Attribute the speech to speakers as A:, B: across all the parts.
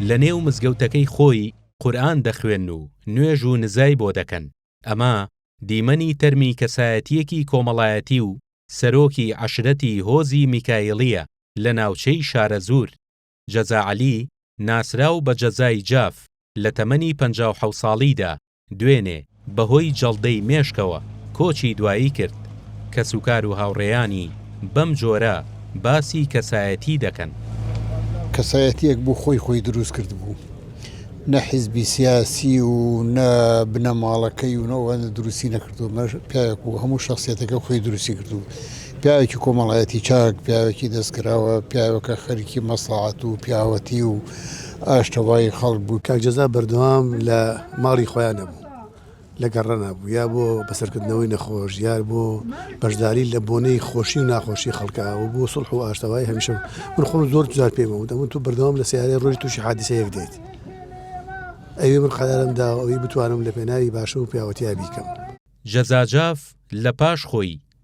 A: لە نێو مزگەوتەکەی خۆی قورئان دەخوێن و نوێژ و نزای بۆ دەکەن، ئەمە دیمەنی تەرمی کەسایەتییەکی کۆمەڵایەتی و سەرۆکی عەشرەتی هۆزی میکایڵییە لە ناوچەی شارەزوور، جەزا عەلی، ناسراو بە جەزای جاف، لە تەمەنی پەنجا و حەوت ساڵیدا، دوێنێ، بەهۆی جەڵدەی مێشکەوە کۆچی دوایی کرد. کەسوکار و هاوڕێیانی بەم جۆرە باسی کەسایەتی دەکەن. کەسایەتییەک
B: بوو خۆی خۆی دروست کردبوو. نە حیزبی سیاسی و نە بنەماڵەکەی و نە ئەوان دروستی نەکردووە. پیاوێک بوو هەموو شەخسیەتەکەی خۆی دروستی کردبوو. پیاوێکی کۆمەڵایەتی چاک، پیاوێکی دەستکراوە، پیاوێکە خەریکی مەسڵەحەت و پیاوەتی و ئاشتەوایی خەڵک بوو. کاک جەزا بەردەوام
C: لە ماڵی خۆیان نەبوو، لە گەڕ نەبوو، یا بۆ بەسەرکردنەوەی نەخۆش، یا بۆ بەشداری لە بۆنەی خۆشی و ناخۆشی خەڵکە و بۆ سوڵح و ئاشتەوایی هەمیشە بوو. من خۆم زۆر جار پێی وەموت، ئەمن تۆ بەردەوام لە سەیارەی ڕۆژی تووشی حادیسەیەک دێیت، ئەوی من قەرارم داوە، ئەوی بتوانم لە پێناوی باشی و پیاوەتیا بیکەم. جەزا جاف
A: لە پاش خۆی،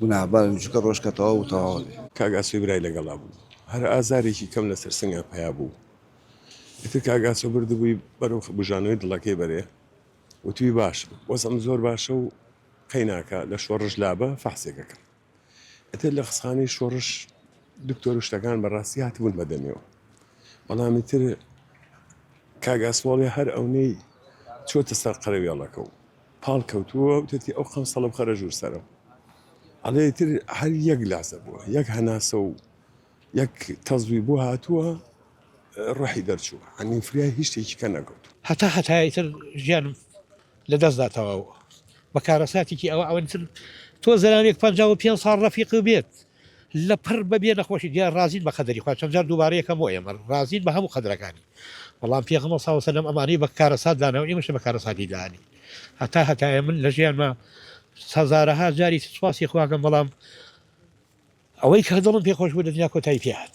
D: گوناهبارن چونکە ڕۆژ کە تەواو و تەواو ئەبێ. کاک ئاسۆی برای لەگەڵا
E: بوو هەر ئازارێکی کەم لەسەر سنگا پەیا بوو ئیتر کاک ئاسۆ بردبووی بەرەو بوژانەوەی دڵەکەی بەرێ وتوی باشە وەزعم زۆر باشە و قەیناکە لە شۆڕش لابە فەحسێک ئەکەم ئیتر لە قسخانەی شۆڕش دکتۆر و شتەکان بەڕاستی هاتبوون بە دەمیەوە بەڵام ئیتر کاک ئاسۆڵێ هەر ئەونەی چۆتە سەر قەرەوێڵەکە و پاڵ کەوتووە و وتەتی ئەو قەمسەڵە بخەرە ژوور سەرم. ئەڵێ ئیتر هەر یەک لاسە بووە، یەک هەناسە و یەک تەزووی بۆ هاتووە، ڕۆحی دەرچووە. ئەنیم فریای هیچ شتێکی کە نەکەوتووە. هەتا هەتایە ئیتر
F: ژیانم لە دەست دا تەواو بووە. بە کارەساتێکی ئەوە ئەوەن ئیتر تۆ زەلامێک پەنجا و پێنج ساڵ ڕەفیقی بێت، لەپڕ بە بێ نەخۆشی دیار ڕازین بە قەدەری خوا چەند جار دووبارە یەکەم بۆ ئێمە ڕازین بە هەموو قەدرەکانی بەڵام پێغەمبەر صلی اللە علیه و سلم ئەمانەی بە کارەسات داناو ئێمەش بە کارەساتی دانی هەتا هەتایە من لە ژیانما هەزارەها جاری سوپاسی خواکەم بەڵام ئەوەی کە دڵم پێ خۆش بوو لە دنیا کۆتایی پێهات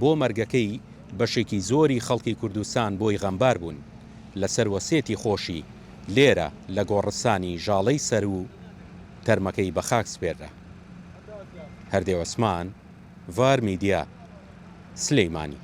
A: بۆ مەرگەکەی بەشێکی زۆری خەڵکی کوردستان بۆی غەمبار بوون لە سەر وەسیەتی خۆشی لێرە لە گۆڕستانی ژاڵەی سەروو تەرمەکەی بە خاک سپێررا. هەردێ عوسمان، ڤار میدیا، سلیمانی.